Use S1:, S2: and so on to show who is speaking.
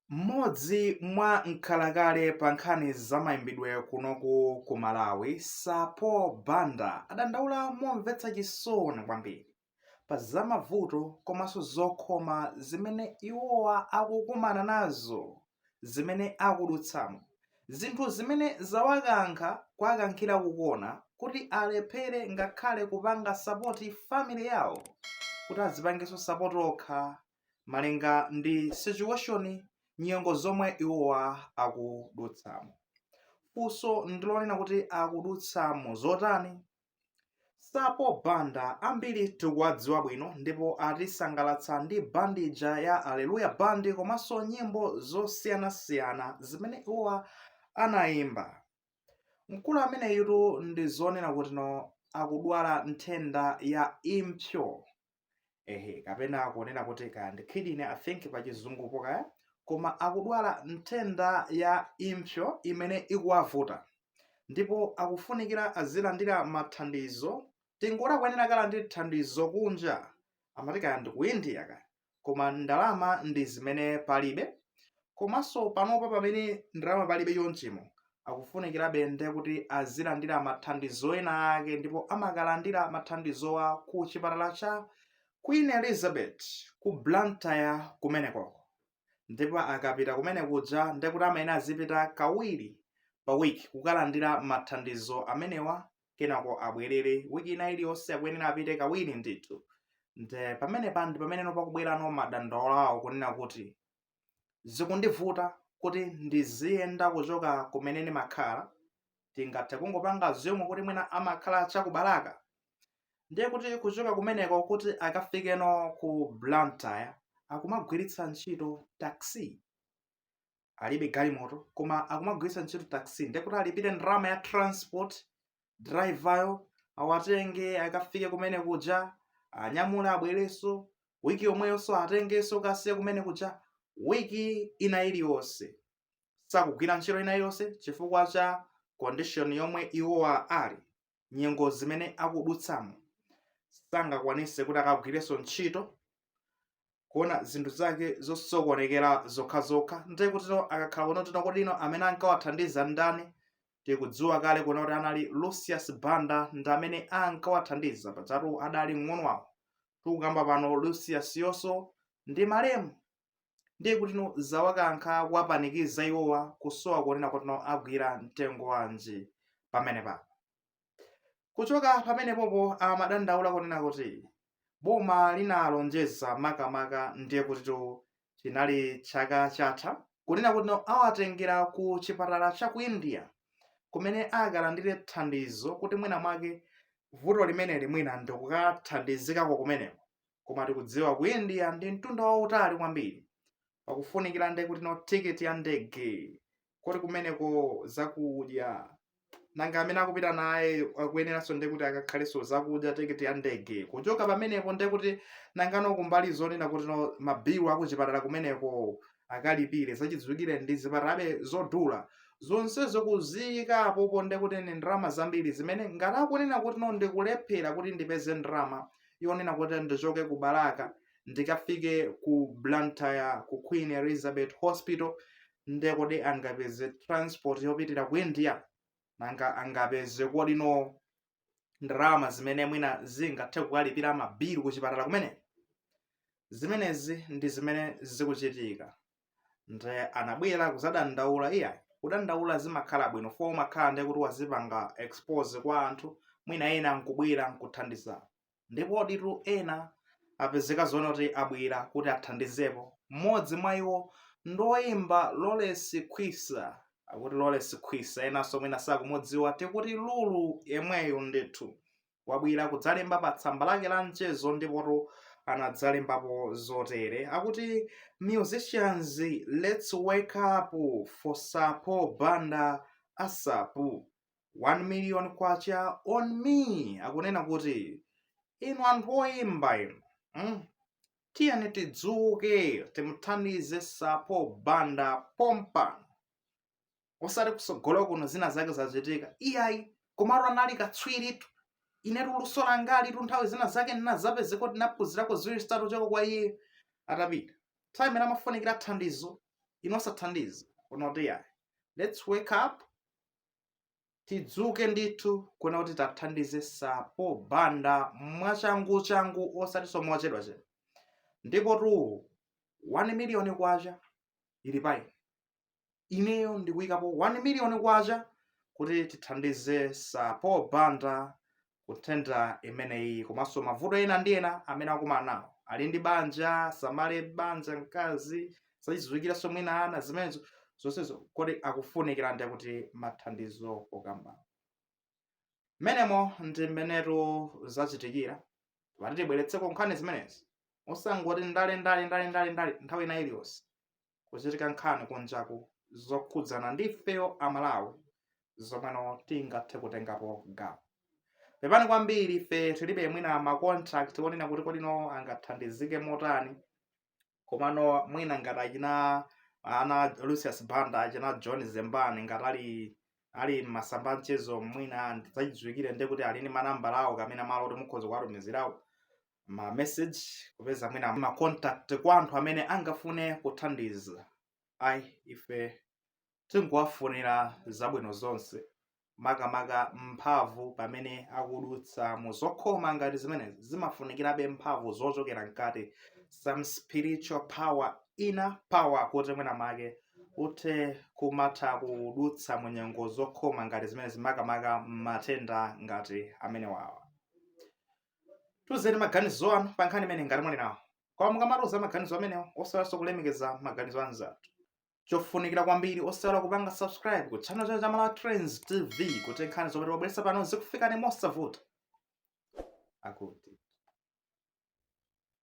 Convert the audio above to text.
S1: Mmodzi mwa nkhalakale pa nkhani za maimbidwe kunoku ku Malawi, Sir Paul Banda adandaula momvetsa chisoni kwambiri pa za mavuto komanso zokhoma zimene iwowa akukumana nazo zimene akudutsamo, zinthu zimene zawakankha kuwakankhira ku kona kuti alephere ngakhale kupanga sapoti family yawo kuti azipangenso sapoti okha malinga ndi situation, nyengo zomwe iwowa akudutsamo. Funso ndilonena kuti akudutsamo zotani? Sir Paul Banda ambiri tikuwadziwa bwino ndipo atisangalatsa ndi band ija ya Alleluya Band komanso nyimbo zosiyanasiyana zimene iwowa anayimba. Mkulu ameneyutu ndizonena kutino akudwala nthenda ya impsyo. ehe kapena kunena kuti kaya ndi kidney i think pa chizungupo kaya koma akudwala nthenda ya impsyo imene ikuwavuta ndipo akufunikira azilandira mathandizo tingoti akuyenera akalandire thandizo kunja amati kaya ndi ku india kaya koma ndalama ndi zimene palibe komanso panopa pamene ndalama palibe chonchimo akufunikirabe nde kuti azilandira mathandizo ena ake ndipo amakalandira mathandizowa ku chipatala cha queen elizabeth ku blantyre kumenekoko ndipo akapita kumene kuja nde kuti amayenera azipita kawiri pa wiki kukalandira mathandizo amenewa kenako abwerere wiki ina iliyonse akuyenera apite kawiri ndithu nde pamenepa ndi pameneno pakubwera no madandaulo awo kunena kuti zikundivuta kuti ndiziyenda kuchoka kumene ndimakhala tingathe kungopanga assume kuti mwina amakhala cha ku balaka ndiye kuti kuchoka kumeneko kuti akafikeno ku blantyre akumagwiritsa ntchito taxi alibe galimoto koma akumagwiritsa ntchito taxi nde kuti alipire ndalama ya transport driveryo awatenge akafike kumene kuja awanyamule abwerenso wiki yomweyonso awatengenso akawasiye kumene kuja wiki ina iliyonse sakugwira ntchito ina iliyonse chifukwa cha condition yomwe iwowa ali nyengo zimene akudutsamo sangakwanise kuti akagwirenso ntchito kuona zinthu zake zosokonekera zokhazokha ndiye kutino akakhala kunena kutino kodi nanga amene ankawathandiza ndani tikudziwa kale kunena kuti anali lucius banda ndi amene ankawathandiza pajatu adali mng'ono wawo tikukamba pano luciusyonso ndi malemu ndiye kutino zawakankha kuwapanikiza iwowa kusowa kunena kutino agwire mtengo wanji pamenepano Kuchoka pamenepopo amadandaula kunena kuti boma linalonjeza makamaka ndiye kutitu chinali chaka chatha kunena kuti no awatengera ku chipatala cha ku India kumene akalandire thandizo kuti mwina mwake vuto limeneli mwina ndikukathandizikako kumeneko koma tikudziwa ku India ndi mtunda wautali kwambiri pakufunikira ndiye kuti no tiketi ya ndege kuti kumeneko zakudya nanga amene akupita naye akuyeneranso nde kuti akakhalenso zakudya tiketi ya ndege kuchoka pamenepo nde kuti nangano kumbali zonena kuti no mabilu akuchipatala kumeneko akalipire zachidziwikire ndi zipatalabe zodula zonsezo kuziyika apopo nde kuti ndi ndalama zambiri zimene ngati akunena kuti no ndikulephera kuti ndipeze ndalama yonena kuti ndichoke ku balaka ndikafike ku blantyre ku queen elizabeth hospital nde kodi angapeze transport yopitira ku india nanga angapeze kodi no ndalama zimene mwina zingathe kukalipira mabilu ku chipatala kumene zimenezi ndi zimene zikuchitika nde anabwera kuzadandaula iyayi kudandaula zimakhala bwino fo umakhala nde kuti wazipanga expose kwa anthu mwina ena nkubwera nkuthandiza ndipo ditu ena apezeka zoona kuti abwera kuti athandizepo mmodzi mwa iwo ndi woimba lawrence khwisa akuti lawrence khwisa enanso mwina sakumudziwa tikuti lulu yemweyo ndithu wabwera kudzalemba pa tsamba lake la mchezo ndipotu anadzalembapo zotere akuti musicians let's wake up for sapo banda asapu 1 million kwacha on me akunena kuti inu anthu oyimba inu mm? tiyeni tidzuke timuthandize sapo banda pompano osati kutsogolo kuno zina zake zachitika iyayi komatu anali katswiritu inetu luso langalitu nthawi zina zake ndinazapezeka kuti ndinaphunzirako ziwiri zitatu kuchoka kwa iye atapita nthawi imene amafunikira thandizo inu osathandiza anati iyayi let's wake up tidzuke ndithu kuona kuti tamthandize sapo banda mwachanguchangu osatinso mochedwachedwa ndipotu 1 miliyoni kwacha ili pa ine ineyo ndikuyikapo 1 miliyoni kwacha kuti tithandize sapo banda ku nthenda imeneyi komanso mavuto ena ndi ena amene akumana nawo ali ndi banja asamale banja mkazi zachidziwikirenso mwina ana zimenezo zonsezo kodi akufunikira nde kuti mathandizo okamba mmenemo ndi mmenetu zachitikira tati tibweretseko nkhani zimenezi osangoti ndale ndale ndale ndale ndale nthawi ina iliyonse kuchitika nkhani kunjaku zokhudzana ndi ifeyo amalawi zomweno tingathe kutengapo gawo pepani kwambiri ife tilibe mwina ma contact onena kuti kodi inu angathandizike motani komano mwina ngati achina ana lucius banda achina john zembani ngati ali mmasamba mchezo mwina ndi zachidziwikire ndi kuti ali ndi manambala awo kamene malo oti mukhoza kuwatumizirawo ma message kupeza mwina ma contact kwa anthu amene angafune kuthandiza ayi ife tikuwafunira zabwino zonse makamaka mphamvu pamene akudutsa mu zokhoma ngati zimenezi zimafunikirabe mphamvu zochokera mkati some spiritual power inner power kuti mwina make uthe kumatha kudutsa mu nyengo zokhoma ngati zimenezi makamaka matenda ngati amenewawa tiuzeni maganizo anu pa nkhani imeneyi ngati muli nawo koma mukamatiuza maganizo amenewo osaiwalanso kulemekeza maganizo anzathu chofunikira kwambiri osaiwala kupanga subscribe ku channel chino cha malawi trends tv kuti nkhani zomwe timabweretsa pano zikufikeni mosavuta akuti